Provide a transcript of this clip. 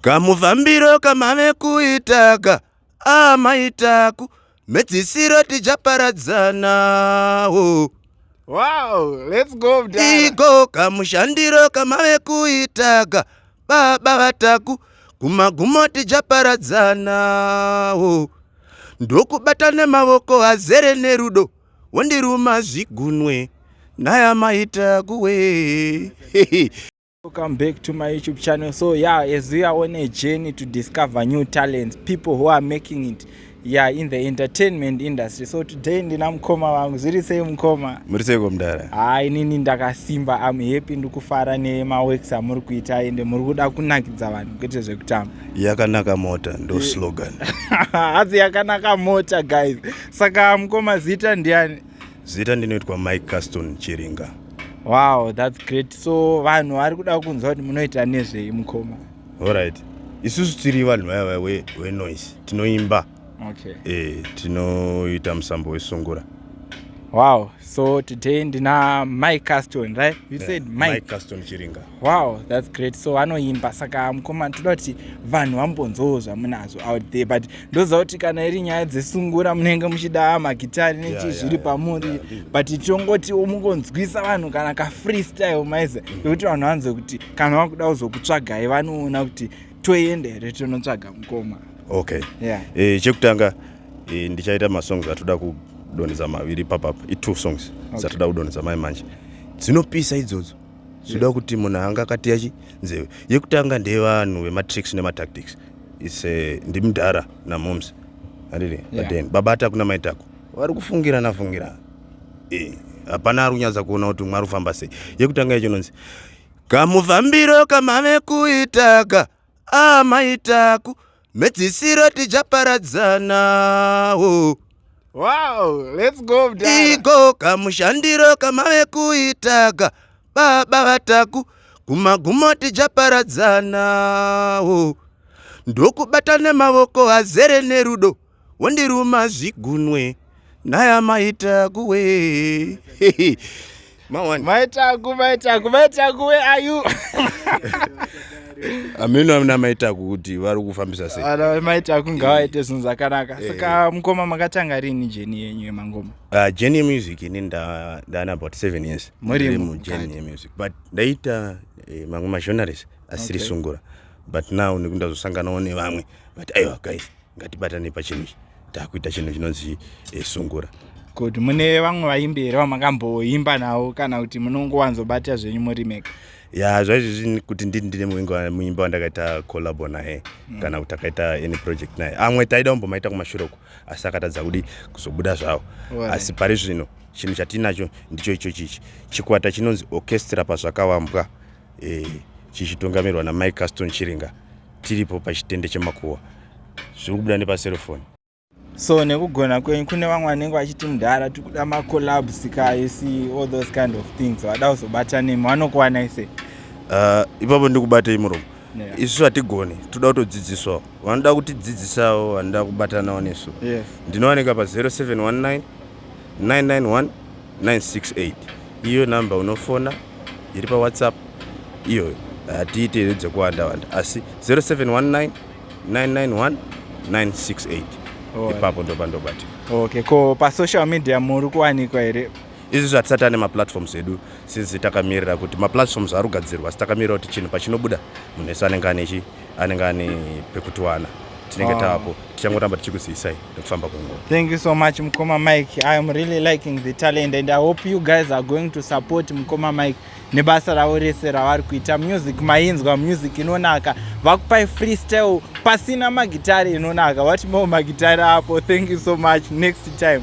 Kamufambiro kamave kuitaka amaitaku ah, mhedzisiro tichaparadzana oh. Wow, let's go mdara. Iko kamushandiro kamave kuitaka baba vataku kumagumo tichaparadzana oh. Ndokubata nemavoko azere nerudo wondiruma zvigunwe naya maitaku we Welcome back to my YouTube channel. So yeah, as we are on a journey to discover new talents, people who are making it yeah, in the entertainment industry. So today ndina mkoma wangu. Zviri sei mkoma? Muri sei komdara? Ah, inini ndakasimba. I'm happy ndikufara nema works amuri kuita ende muri kuda kunakidza vanhu kwete zvekutamba. Yakanaka mota ndo slogan. Hadzi yakanaka mota guys. Saka mkoma zita ndiani? Zita ndinoitwa Mike Caston Chiringa. Wow, that's great. So vanhu vari kuda kunzwa kuti munoita nezvei mukoma? All right. Isusu tiri vanhu vaya vaya we, we noise. Tinoimba. Okay. Eh, tinoita musambo wesungura. Wow. So today ndina Mike Caston, right? You yeah, said Mike. Mike Caston Chiringa. wow thats great so vanoimba saka mukoma toda kuti vanhu vambonzowo zvamunazvo out there but ndoziva kuti kana iri nyaya dzesungura munenge muchida magitari nechii zviri pamuri but tongoti mukonzwisa vanhu kana kafreestyle maize mm. nekuti vanhu vanzwe kuti kana vakuda kuzokutsvagai vanoona kuti toenda here tonotsvaga mukoma okay yeah. e, chekutanga e, ndichaita masongs atoda kudonhedza maviri papapa itwo songs okay. zatoda kudonhedza mai manje dzinopisa idzodzo Zvoda kuti munhu anga akateya chi nzeve. Yekutanga ndevanhu vematricks nematactics. It's eh, ndimudhara namoms. Handiti? Yeah. But then baba ataku namai taku vari kufungirana fungirana. Eh, hapana ari kunyatsa kuona kuti umwe ari kufamba sei. Yekutanga yacho inonzi kamufambiro kamave kuitaka amaitaku ah, mhedzisiro tichaparadzana oh. wow, let's go iko kamushandiro kamave kuitaga baba vataku kumagumo tichaparadzana oh. ndokubata nemavoko azere nerudo Wondiruma zvigunwe naya maita kuwe. Mawani. Maitaku, maitaku, maitaku, where are you? Ameno amina maitaku kuti vari kufambisa sei. Ana maitaku ngawaite zvinhu zvakanaka. Eh. Saka mukoma makatanga rini jeni yenyu yemangoma? Uh, jeni yemusic ini nda ndana about 7 years. Muri mu jeni yemusic but ndaita eh, mamwe magenres asiri okay. sungura but now nekundazosanganawo nevamwe but aiwa guys ngatibatane pachinhu ichi takuita chinhu chinonzi eh, sungura kuti mune vamwe vaimbi here vamakamboimba navo kana kuti munongowanzobatira zvenyu muri mega ya zvaizvizvi kuti ndii ndine muimba wandakaita collabo naye mm. kana kuti akaita any project naye amwe taida kumbomaita kumashure uko asi akatadza kudi kuzobuda zvavo asi pari zvino chinhu chatiinacho ndicho icho chichi chikwata chinonzi orchestra pazvakavambwa e, chichitungamirwa namai caston chiringa tiripo pachitende chemakuwa zviri kubuda nepaserofoni so nekugona kwenyu kune vamwe vanenge vachiti mudhara tiri kuda macolabs ka you see all those kind of things vada kuzobata nemi vanokuwanai sei uh, ipapo ndi kubatei muromo yeah. isu hatigoni toda kutodzidziswawo vanoda kutidzidzisawo vanoda kubatanawo nesu yes. ndinowanika pa 0719 991 968 iyo number unofona iri pawhatsapp iyo hatiite idzo dzekuwanda wanda asi 0719 991 968 ipapo ndopandobati okay ko pasocial media muri kuwanikwa here izvi zvatisati ane maplatforms edu since takamirira kuti maplatforms ari kugadzirwa asi takamirira kuti chinhu pachinobuda munhu ese anenge ane anenge ane pekutiwana tinenge ah. taapo tichangoramba tichikuziyisai nekufamba kwenguva thank you so much mukoma mike i am really liking the talent and i hope you guys are going to support mukoma mike nebasa ravo rese ravari kuita music mainzwa music inonaka vakupai freestyle pasina magitari inonaka what more magitari apo thank you so much next time